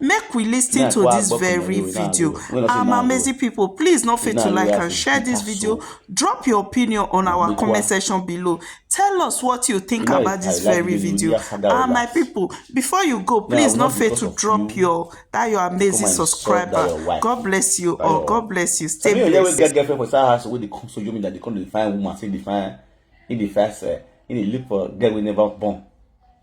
Make we lis ten to this very video. Our amazing people, please no fail to like and share this video. Drop your opinion on our comment section below. Tell us what you think about this very video. And ah, my people, before you go, please no fail to drop your that your amazing subscriber. God bless you all. God bless you. Stay blessed. Some people get girlfriend for side house wey dey come so you mean that they come dey find woman say dey find, he dey find, he dey look for girl wey never born.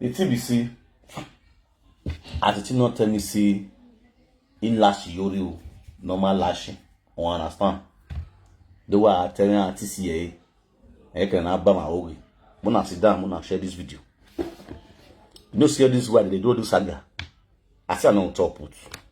the thing be say as the thing not tell me say in lash yori o normal lashing I understand the way i tell you at tca i can have bama oge when i sit down when i share this video you know see all this way they do all this saga i say i no on top put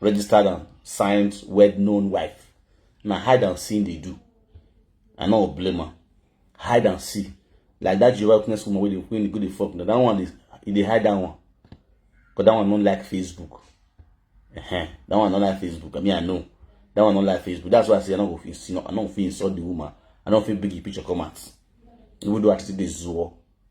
registered and signed well-known wife na hide and see they do i no blame her hide and see like that jehovah witness woman wey dey wey dey go dey fuck na that one dey e dey hide that one but that one no like facebook uh -huh. that one no like facebook i mean i know that one no like facebook that's why i say i no go fit i no fit insult the woman i no fit bring the picture come out even though i still dey zuo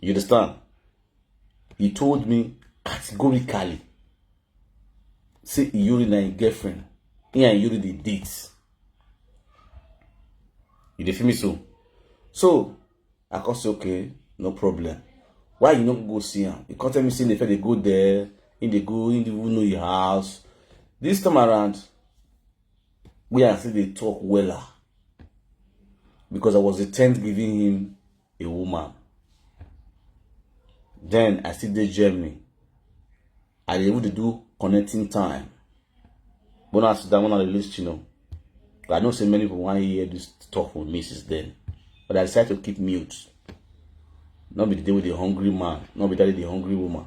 You understand? He told me categorically, say Yuri na him girlfriend. He and Yuri dey date. You dey feel me so? So, I come say, okay, no problem. Why you no go see him? He come tell me say they dey go there, he dey go, he dey even know your house. This time around, where I still dey talk wella because I was the tenth giving him a woman. Then I still dey Germany. I dey even dey do connecting time. When I sit down, when I release you know, I know say many people want to hear this talk from me since then, but I decided to keep mute. Not be the day with the hungry man, not be that day the hungry woman.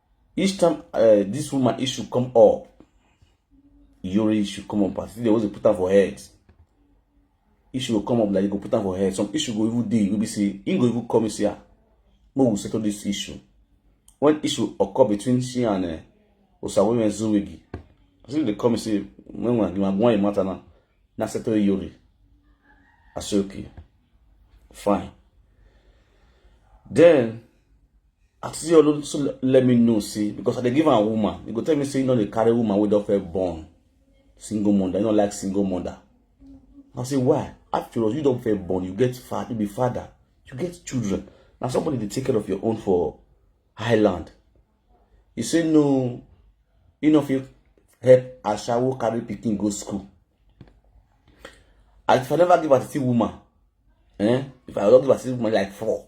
each time uh, this woman issue come up Yuri issue come up as if they always put am for head issue go come up like you go put am for head some issue go even dey you go be say he go even come and say ah make we settle this issue when issue occur between she and uh, eh, Osawoye Ezuwigi as if they come and say when we give am one matter now na settle Yuri I say okay fine then Auntie Olu so let me know see because I dey give am woman. You go tell me say you no dey carry woman wey don first born single mother. You no like single mother. I say why? After you don first born, you get father, you be father, you get children. Now somebody dey take care of your own for Highland. You say no, you no fit help Ashawo carry pikin go school. And if I never give her to woman, eh? If I don't give her to woman like four,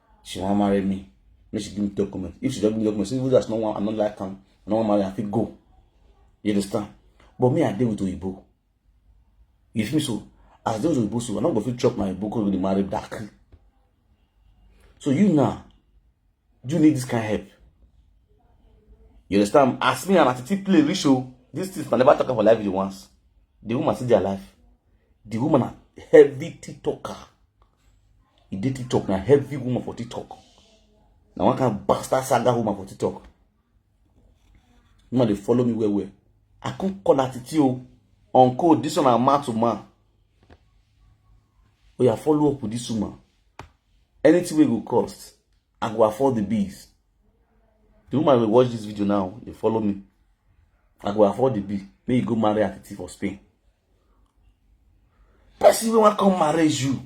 she wan marry me make she give me document if she don give me document say you just no wan i no like am i no wan marry am i fit go you understand but me i dey with oyibo you feel me so as i dey with oyibo so i no go fit chop my oyibo cause we dey marry dark so you now you need this kind help you understand as me and atiti play reach o this thing na never talk am for life video once the woman still dey alive the woman na heavy tea talker e dey tiktok na heavy woman for tiktok na one kind bastard saga woman for tiktok woman dey follow me well well i come call her titi o on code this one na man to man oya follow up with this woman anything wey go cost i go afford the bills the woman wey watch this video now dey follow me i go afford the bill make you go marry her titi for spain person wey wan come marry you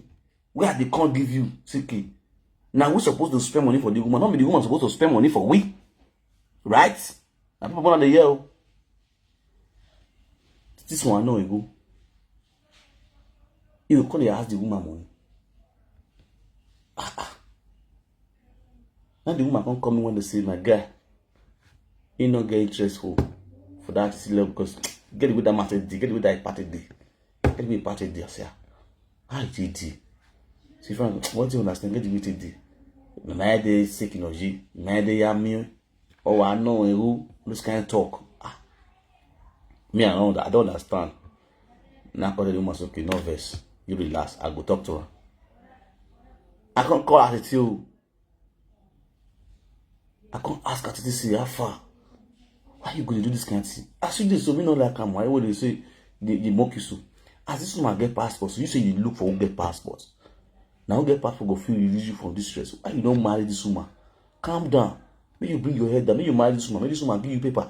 wey i dey come give you ck na we suppose to spend money for the woman no be the woman suppose to spend money for we right na people na dey hear o this one no ego you go come dey ask the woman money ah ah Now the woman come come when they say, my guy, he no get interest for, for that silly because get away that matter day, get away that party day, get away party day. I say, how it is? See, from what do you understand? Get away today. Nana de sick in oji, nana de yami, oh I know who this kind of talk. Ah, me I don't, I don't understand. na I call the woman say okay no vex you relax I go talk to her I come call her titi o I come ask her titi say how far why you go dey do this kind thing as you dey so me no like am why you dey say dey dey mock you so as this woman get passport so you say you dey look for who get passport na who get passport go fit release you from this stress why you don marry this woman calm down make you bring your head down make you marry this woman make this woman give you paper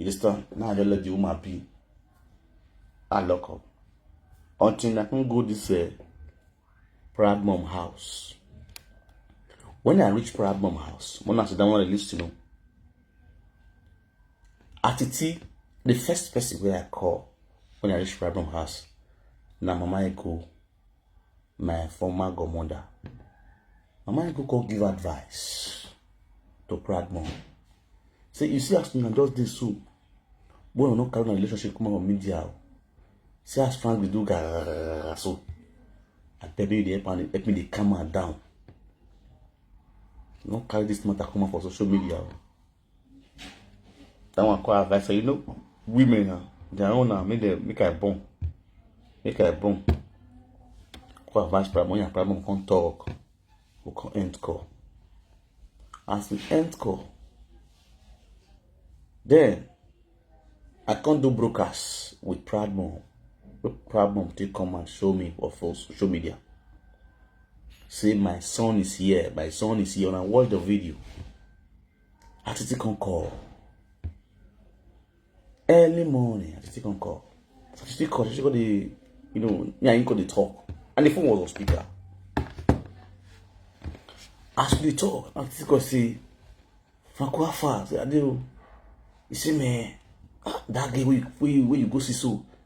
Ilistan, now I let the woman be. I lock up. Until I can go this uh, proud mom house. When I reach proud mom house, when I sit down on the list, you know, Atiti, the first person where I call when I reach proud mom house, now mama I go my former godmother mama i go come give advice to proud mom say you see as una just dey so wey una no carry una relationship come on media o see as frank dey do garara so abeg make you dey help am help me dey calm am down no carry this matter come out for social media o. That one call advice. You know, women now, their own now, make them make I born. Make I born. Call advice problem, your problem can't talk. We can end call. As we end call, then I can't do broadcast with Proud Mom. Proud Mom take come and show me what for social media. Say my son is here, my son is here, and I watch the video. I to take on call. Early morning, I to take on call. So she take call, she got the, you know, yeah, I got the talk. And the phone was on speaker. As we talk, I to go see, Franco Afa, I say, Adeo, you see me, ah, that girl where you, where you, where you go see so,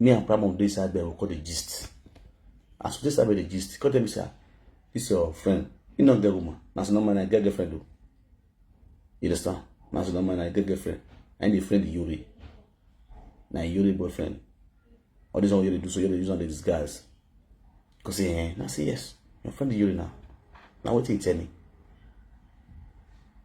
me and Primo dey inside bed we come dey gist as we dey inside bed dey gist he come tell me say ah this your friend he no get woman na so normal na get girlfriend o you understand na so normal na get girlfriend na him dey friend Yuri na Yuri boyfriend all this one wey you dey do so you dey use am dey disguise he come say eh na say yes your friend Yuri na na wetin he tell me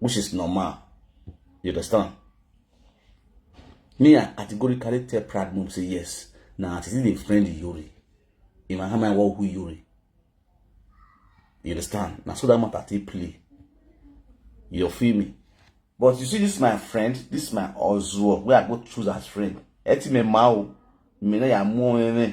which is normal you understand me i categorically tell proud mom say yes na as e dey friend yori in my hand my work who yori you understand na so that matter take play you feel me but you see this my friend this my ozuo wey i go choose as friend ẹ ti mẹ ma o mi náà yà mú ọ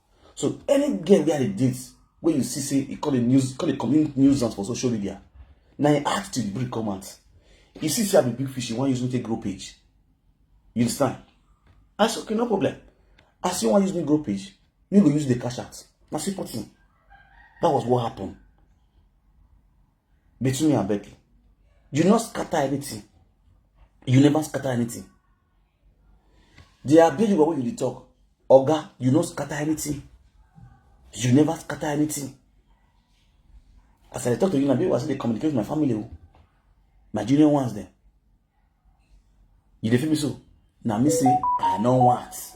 so any girl wey i dey date wey you see say e call a news call a community news out for social media na im act till the break come out you see say i be big fish you wan use me take grow page you understand i say okay no problem i say you wan use me grow page me go use the cash out na simple thing that was what happened between me and Becky you no scatter anything you never scatter anything They are big when you dey talk. Oga, you no scatter anything. You never scatter anything. As I talk to you, now, people they communicate with my family. Oh. My junior ones there. You dey feel me so? Now me say, I know once.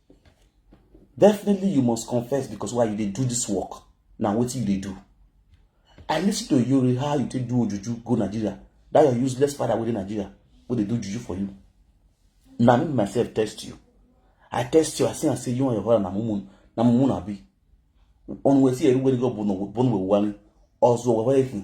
definitely you must confess because why you dey do this work na wetin you dey do i listen to you how you take do ojuju go nigeria that your useless father wey dey nigeria wey dey do juju for you na me myself test you i test you i see am say you and your father na mumu na mumu na be on wey see everywhere go bono bono wey wani ọzọ wẹwẹ ehin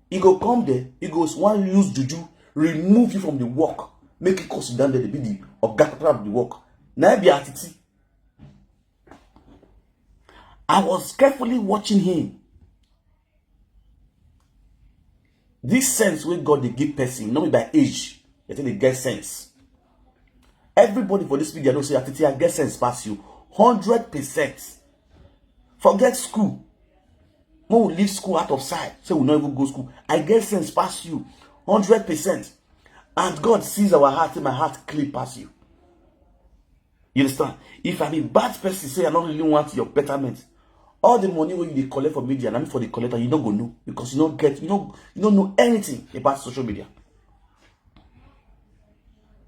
e go come there e go wan use juju remove you from the work make you come sit down there dey be the oga capital of the work na be atiti i was carefully watching him this sense wey god dey give person no be by age you think dey get sense everybody for this media know say atiti i get sense pass you hundred percent forget school mo we leave school out of sight say we no even go school i get sense pass you hundred percent and god sees our heart say my heart clean pass you you understand if i be bad person say i no really want your betterment all the money wey you dey collect for media na me for the collector you no go know because you no get you no you no know anything about social media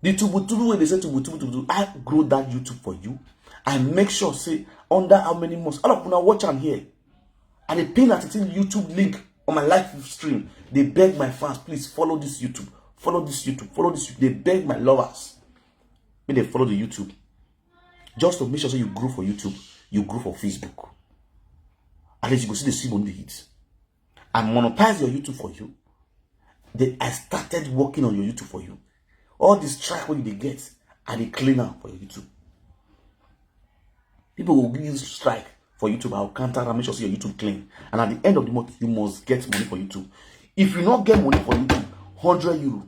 the tubutubu wey dey say tubutubu tubutubu i grow that youtube for you i make sure say under how many months all of una watch am here i dey pin at the youtube link on my live stream dey beg my fans please follow this youtube follow this youtube follow this youtube dey beg my lovers make dem follow the youtube just to make sure say you grow for youtube you grow for facebook at least you go see the see money dey hit I monetize your YouTube for you. Then I started working on your YouTube for you. All this track wey you dey get, I dey clean am for your YouTube. People will give you strike for YouTube. I will counter and make sure say your YouTube clean. And at the end of the month, you must get money for YouTube. If you not get money for YouTube, 100 euro,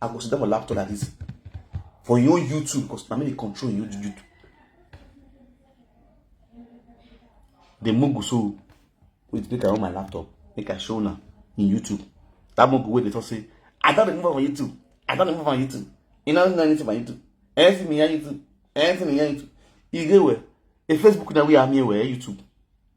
I go sit down for laptop like this for your own YouTube because na me dey control your YouTube. The mugu so wait make I on my laptop make I show una in YouTube. That mugu wey dey talk say I don dey move on YouTube. I don dey move on YouTube. You no know anything about YouTube. Anything me on YouTube. Anything me on YouTube. You dey where? A Facebook na we am here where YouTube.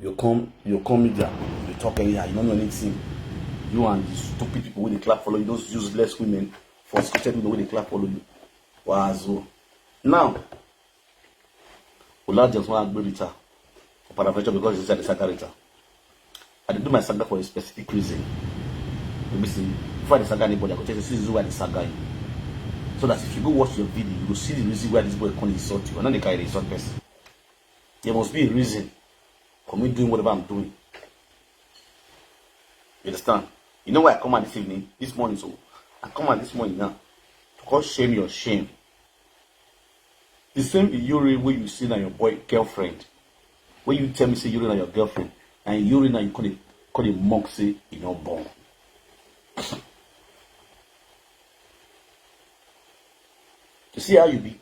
you come you come media you talk anyhow you no know anything you and the stupid people wey dey clap follow you those useless women for scripted women wey dey clap follow you wazo now olajuwon agberita for paraventure because he said the sakarita. I dey do my saga for a specific reason. Let me see. Before I dey saga anybody, I go tell you, see the reason why I dey saga you. So that if you go watch your video, you go see the reason why this boy come insult you. I no dey carry the insult person. There must be a reason for me doing whatever I'm doing. You understand? You know why I come out this evening, this morning, so I come out this morning now to call shame your shame. The same Iyore wey you see na your boy girlfriend When you tell me say Yuri na your girlfriend, and Yuri na you call it call it mock say e no born. You see how you be?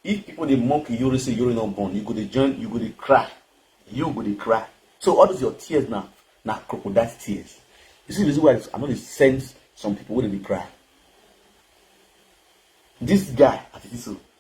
If people dey mock Yuri say Yuri no born, you go dey join, you go dey cry. You go dey cry. So all those your tears now, now crocodile tears. You see the reason why I know they send some people when they cry. This guy, at this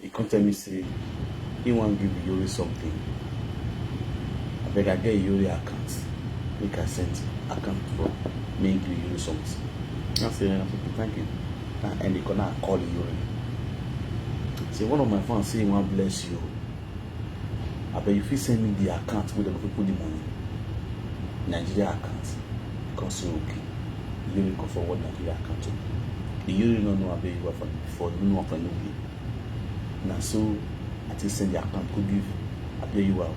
He come tell me say him wan give Iyori something, abeg I get Iyori account make I send account for make him give Iyori something. I say ehn okay thank you, na end the call na I call Iyori say one of my fans say him wan bless you oo, abeg you fit send me the account wey dem go fit put the money, Nigeria account, he come say okay. ilé mi kan fọwọ́ nàìjíríà kan tó the yearly no know abeg you for for no know for no be na so i take send the account go give abeg you are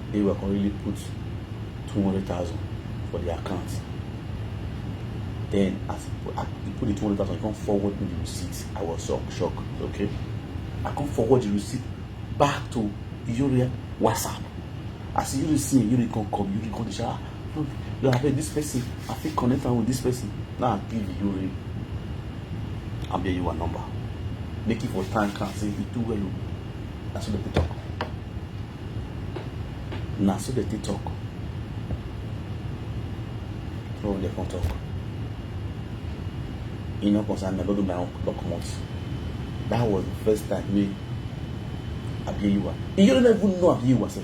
abeg you are come really put two hundred thousand for the account then as he put, as he put the two hundred thousand he come forward me the receipt i was so shocked okay i come forward the receipt back to Yoria WhatsApp. As you see, you come come, you come shower. you have this person i fit connect am with this person now i give you ring i'm giving you a number make it for time can say e do well o na so dem dey talk na so dem dey talk no one dey come talk e no concern me i no do my own block comot that was the first time wey abiyewa e no even know abiyewa sef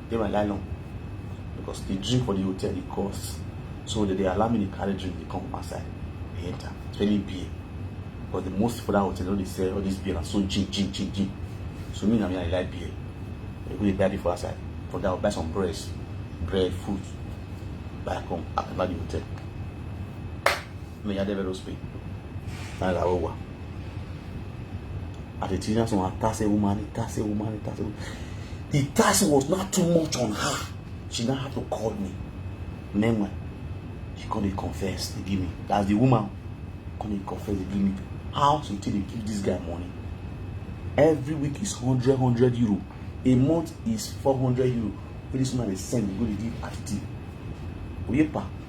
dey my nylon because the drink for the hotel dey cost so they dey allow me dey carry drink dey come from outside dey enter especially beer because the most people that hotel no dey sell all this beer na so gin gin gin gin so me na me i dey like beer i dey go dey buy beer for outside for that i buy some bread bread food buy come after the hotel. mi ya debe los pin na la owa at the teacher so attach a woman attach a woman attach a woman the task was not too much on her she now had to call me meanwhile she come dey confess dey give me as the woman come dey confess dey give me how she take dey give this guy money every week is hundred hundred euro a month is four hundred euro wey this woman dey send dey go dey give at the tea oyepa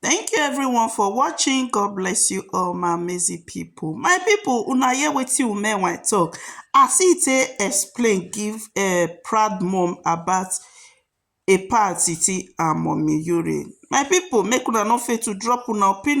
Thank you everyone for watching. God bless you all my amazing people. My people, una hear wetin women when talk. As he take explain give uh, proud mom about a party and mommy urine. My people, make una no fail to drop una opinion.